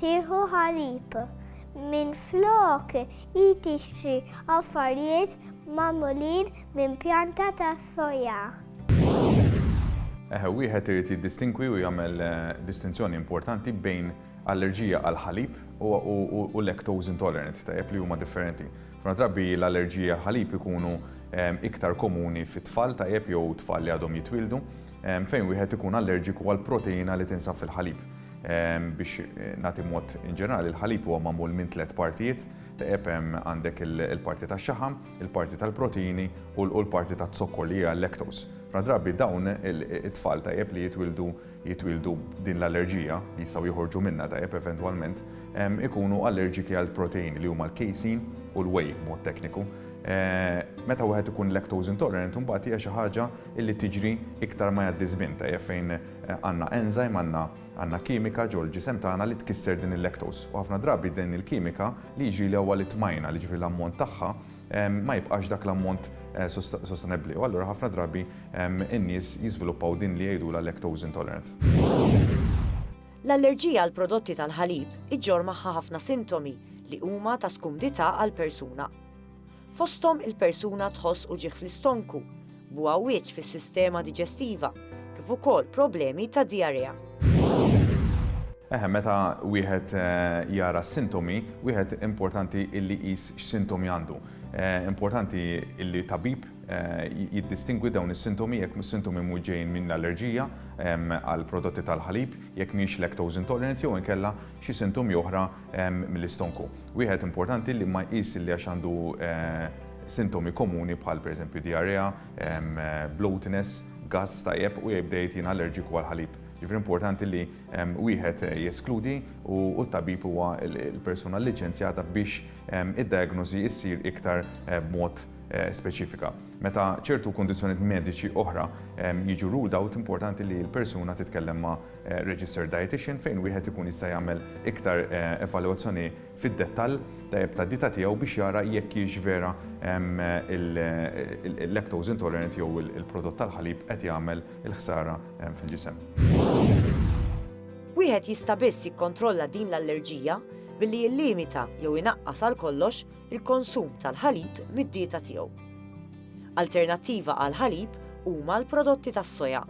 tieħu ħalib, minflok hi tixtri affarijiet magħmulin minn pjanta tas-soja. Eħe, wieħed irid jiddistingwi u jagħmel distinzjoni importanti bejn allerġija għall-ħalib u lactose intolerance, tajjeb li huma differenti. Ħafna drabi l-allerġiji għall-ħalib ikunu iktar komuni fit-tfal tajjeb jew tfal li għadhom jitwieldu, Fejn wieħed ikun allerġiku għal proteina li tinsab fil-ħalib. Biex nagħti mod inġenerali, il-ħalib huwa magħmul minn tliet partijiet, taqeb hemm għandek il-parti tax-xaħam, il-parti tal-proteini u l-parti taz-zokkor li hija l-lactose. F'ħafna drabi dawn it-tfal tajjeb li jitwieldu jitwieldu b'din l-allerġija, li jistgħu joħorġu minnha tajjeb eventwalment, ikunu allerġiki għall-proteini li huma l-casein u l-whey b'mod tekniku. Meta wieħed ikun lactose intolerant imbagħad hija xi ħaġa Illi tiġri iktar ma jgħaddi ż-żmien, tajjeb fejn għandna enzyme, għandna għandna kimika ġol ġisem tagħna li tkisser din il-lactose. U ħafna drabi din il-kimika li jiġrili huwa li t-tmajna, li jiġifieri l-ammont tagħha ma jibqax dak l-ammont sostenebbli. U allura ħafna drabi n-nies jiżviluppaw din li jgħidulha lactose intolerant. L-allerġija għal prodotti tal-ħalib iġġorr magħha ħafna sintomi li huma ta' skumdità għall-persuna. fosthom il-persuna tħoss uġigħ fl-istonku, b'għawwieġ fis-sistema diġestiva, kif ukoll problemi ta' dijarea. Eħe, meta wieħed jara s-sintomi, wieħed importanti illi jqis x'sintomi għandu. Importanti illi tabib jiddistingwi dawn is-sintomi jekk is-sintomi mhux ġejjin minn allerġija għal prodotti tal-ħalib, jekk mhix lactose intolerant jew inkella xi sintomi oħra mill-istonku. Wieħed importanti li ma jqis li għax għandu sintomi komuni bħal pereżempju diarrea, bloatiness, gass tajjeb u jibda jgħid jien allerġiku għall-ħalib. Ġifieri importanti li wieħed jeskludi u t-tabib huwa l-persuna liċenzjata biex id-diagnosi ssir iktar b'mod speċifika. Meta ċertu kundizzjonijiet mediċi oħra jiġu ruled out, importanti li l-persuna titkellem ma' registered dietician fejn wieħed ikun jista' jagħmel iktar evalwazzjoni fid-dettall tajjeb tad-dieta tiegħu biex jara jekk hijiex vera il-lactose intolerant jew il-prodott tal-ħalib qed jagħmel il-ħsara fil-ġisem. Wieħed jista' biss jikkontrolla din l-allerġija billi jillimita jew inaqqas għal kollox il-konsum tal-ħalib mid-dieta tiegħu. Alternattiva għall-ħalib huma l-prodotti tas-soja.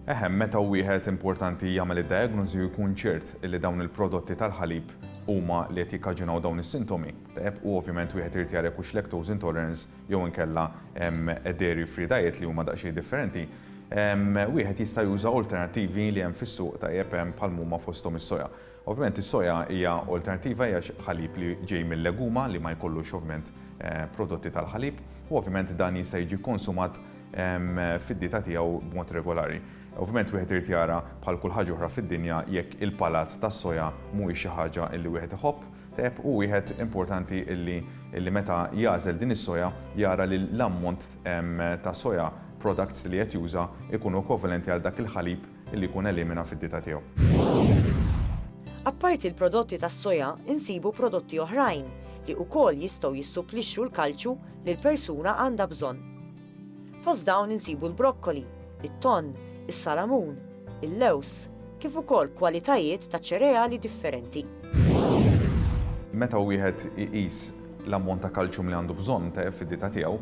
Eħe, meta wieħed importanti jagħmel id-diagnosi u jkun ċert li dawn il-prodotti tal-ħalib huma li qed jikkaġunaw dawn is-sintomi, tajjeb, u ovvjament wieħed irid jara jekk hux lactose intolerance jew inkella dairy free diet li huma daqsxejn differenti, wieħed jista' juża alternattivi li hemm fis-suq, tajjeb, bħal mhuma fosthom is-soja. Ovvjament is-soja hija olternattiva, hija ħalib li ġej mil-leguma li ma jkollux ovvjament prodotti tal-ħalib u ovvjament dan jista' jiġi konsumat fid-dieta tiegħu b'mod regolari. Ovvjament wieħed irid jara bħal kull ħaġa oħra fid-dinja jekk il-palat tas-soja mhuwiex xi ħaġa li wieħed iħobb tajjeb u wieħed importanti li li meta jagħżel din is-soja jara li l-ammont ta' soja products li qed juża jkunu ekwivalenti għal dak il-ħalib li jkun elimina fid-dieta tiegħu. Apparti l-prodotti tas-soja nsibu prodotti oħrajn li wkoll jistgħu jissupplixxu l-kalċju li l-persuna għandha bżonn. Fost dawn insibu l-brokkoli, it-tonn, is-salamun, il-lewż, kif ukoll kwalitajiet ta' ċereali differenti. Meta wieħed iqis l-ammont ta' kalċjum li għandu bżonn fid-dieta tiegħu,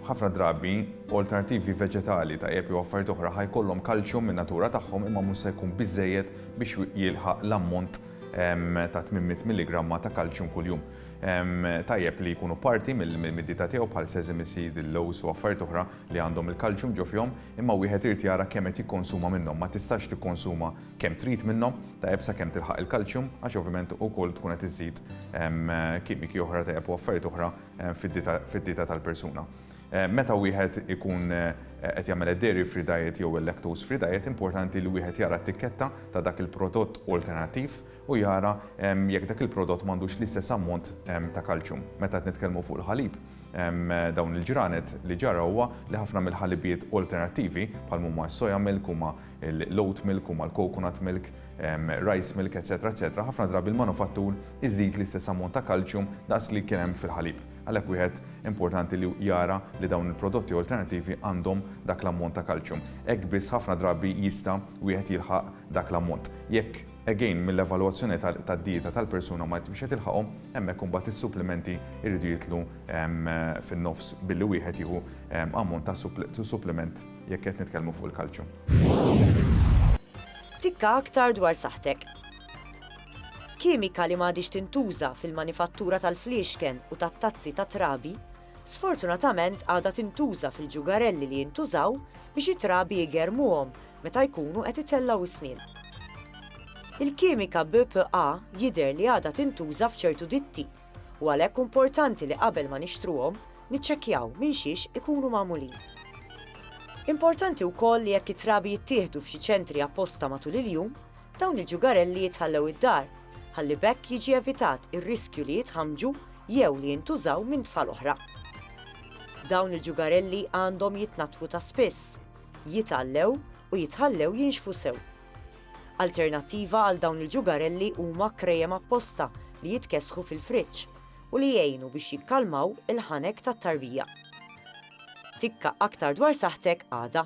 Ħafna drabi, olternattivi veġetali tajjeb jew affarijiet oħra ħa jkollhom kalċjum min-natura tagħhom imma mhux se jkun biżżejjed biex jilħaq l-ammont ta' 800 milligramma ta' kalċjum kuljum. Tajjeb li jkunu parti mid-dieta tiegħu bħal sesame seed, il-lowż u affarijiet oħra li għandhom il-kalċjum ġo fihom imma wieħed irid jara kemm qed jikkonsuma minnhom. Ma tistax tikkonsuma kemm trid minnhom, tajjeb sakemm tilħaq il-kalċjum għax ovvjament ukoll tkun qed iżżid kimiċi oħra tajjeb u affarijiet oħra fid-dieta tal-persuna. Meta wieħed ikun qed jagħmel id-dairy free diet jew il-lactose free diet, importanti li wieħed jara t-tikketta ta' dak il-prodott alternattiv u jara jekk dak il-prodott m'għandux l-istess ammont ta' kalċjum. Meta qed nitkellmu fuq il-ħalib, dawn il-ġranet li ġara huwa li ħafna mill-ħalibiet alternattivi, bħal huma s-soja milk, huma l-oat milk, huma l-coconut milk, rice milk, etc. Etc. Ħafna drabi l-manufattur iżid l-istess ammont ta' kalċjum daqs li kien hemm fil-ħalib. Għalhekk wieħed importanti li jara li dawn il-prodotti alternattivi għandhom dak l-ammont ta' kalċjum. Hekk biss ħafna drabi jista' wieħed jilħaq dak l-ammont. Jekk, again, mill-evalwazzjoni tad-dieta tal-persuna ma jkunx qed jilħaqhom, hemmhekk imbagħad is-supplimenti jridu jidħlu fin-nofs billi wieħed jieħu ammont ta' suppliment jekk qed nitkellmu fuq il-kalċjum. Tikka aktar dwar saħħtek. Kimika li m'għadhiex tintuża fil-manifattura tal-fliexken u tat-tazzi tat-trabi, sfortunatament għadha tintuża fil-ġugarelli li jintużaw biex it-trabi jgerrmuhom meta jkunu qed itellgħu s-snien. Il-kimika BPA jidher li għadha tintuża f'ċertu ditti u għalhekk umportanti li qabel ma nixtruhom niċċekkjaw minn xiex ikunu magħmulin. Importanti wkoll li jekk it-trabi jittieħdu f'xi ċentri apposta matul il-jum, Dawn il-ġugarelli jitħallew id-dar ħalli b'hekk jiġi evitat ir-riskju li jitħammġu jew li jintużaw minn tfal oħra. Dawn il-ġugarelli għandhom jitnaddfu ta' spiss, jitgħallew u jitħallew jinxfu sew. Alternattiva għal dawn il-ġugarelli huma krejem apposta li jitkessħu fil-friġġ u li jgħinu biex jikkalmaw il-ħanek tat-tarbija. Tikka aktar dwar saħħtek għada.